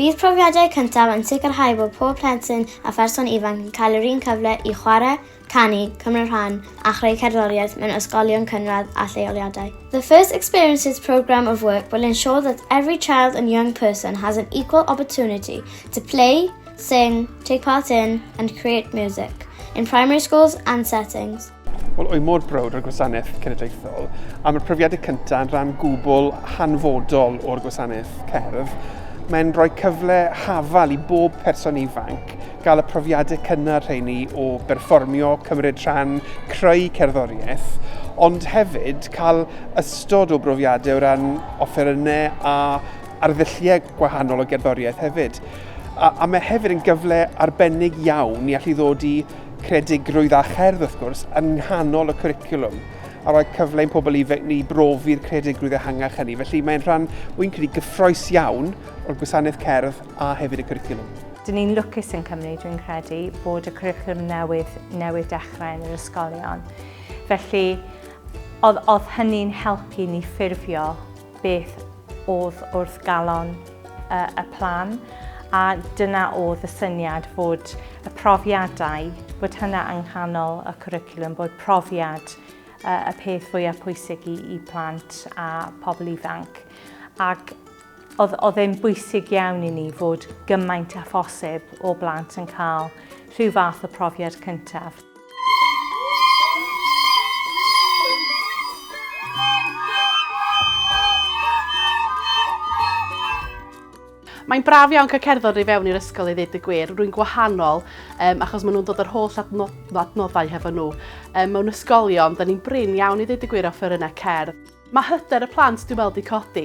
Bydd profiadau cyntaf yn sicrhau bod pob plentyn a pherson ifanc yn cael yr un cyfle i chwarae, canu, cymryd rhan a chreu cerddoriaeth mewn ysgolion cynradd a lleoliadau. The First Experiences programme of work will ensure that every child and young person has an equal opportunity to play, sing, take part in and create music in primary schools and settings. Wel, o'i mor browd o'r gwasanaeth cenedlaethol, a mae'r profiadau cyntaf yn rhan gwbl hanfodol o'r gwasanaeth cerdd, mae'n rhoi cyfle hafal i bob person ifanc gael y profiadau cynnar rheini o berfformio, cymryd rhan, creu cerddoriaeth, ond hefyd cael ystod o brofiadau o ran offerynnau a arddulliau gwahanol o gerddoriaeth hefyd. A, a mae hefyd yn gyfle arbennig iawn i allu ddod i Creadigrwydd a cherdd, wrth gwrs, yn nghanol y cwricwlwm a rhoi cyfle i'n pobl ifanc ni brofi'r creadigrwydd ehangach hynny. Felly mae'n rhan, wy'n credu, gyffroes iawn o'r gwasanaeth cerdd a hefyd y cwricwlwm. Dyn ni'n lwcus yn Cymru, dwi'n credu, bod y cwricwlwm newydd newydd dechrau yn yr ysgolion. Felly, oedd, oedd hynny'n helpu ni ffurfio beth oedd wrth galon y plan a dyna oedd y syniad fod y profiadau, bod hynna yng nghanol y cwricwlwm, bod profiad y peth fwyaf pwysig i, i plant a pobl ifanc. Ac oedd, oedd e'n bwysig iawn i ni fod gymaint a phosib o blant yn cael rhyw fath o profiad cyntaf. Mae'n braf iawn cael cerdded i fewn i'r ysgol i ddweud y gwir. Rwy'n gwahanol um, achos maen nhw'n dod yr holl adnoddau hefo nhw. Um, mewn ysgolion, da ni'n brin iawn i ddweud y gwir o ffyrynau cerdd. Mae hyder y plant dwi'n meddwl wedi codi.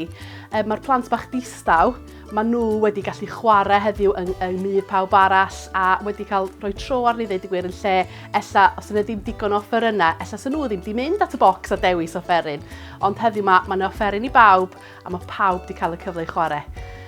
Ehm, mae'r plant bach distaw, maen nhw wedi gallu chwarae heddiw yng, yng myd pawb arall a wedi cael rhoi tro arni ddweud y gwir yn lle ella os yna ddim digon o offerynnau, ella sy'n nhw ddim wedi mynd at y bocs a dewis offeryn. Ond heddiw mae, mae yna offeryn i bawb a mae pawb wedi cael y cyfle i chwarae.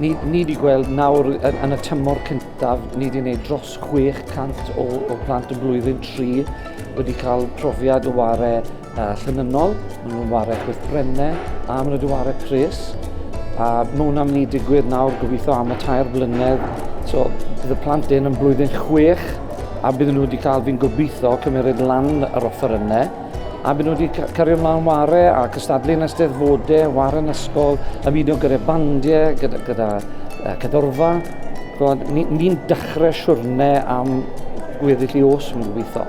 Ni, ni wedi gweld nawr yn y tymor cyntaf, ni wedi gwneud dros 600 o, o plant y blwyddyn 3 wedi cael profiad o ware uh, llynynol, maen nhw'n ware chwithbrennau a maen nhw wedi ware pres. A mae hwnna'n mynd i digwydd nawr gobeithio am y tair blynedd. So bydd y plant yn yn blwyddyn 6 a bydden nhw wedi cael fi'n gobeithio cymeryd lan yr offer yna. a maen nhw wedi cario mlaen ware a cystadlu yn ysteddfodau, ware yn ysgol, ymuno gyda bandiau, gyda, gyda uh, cadorfa. Ni'n ni, ni dechrau siwrne am gweddill i os yn gobeithio.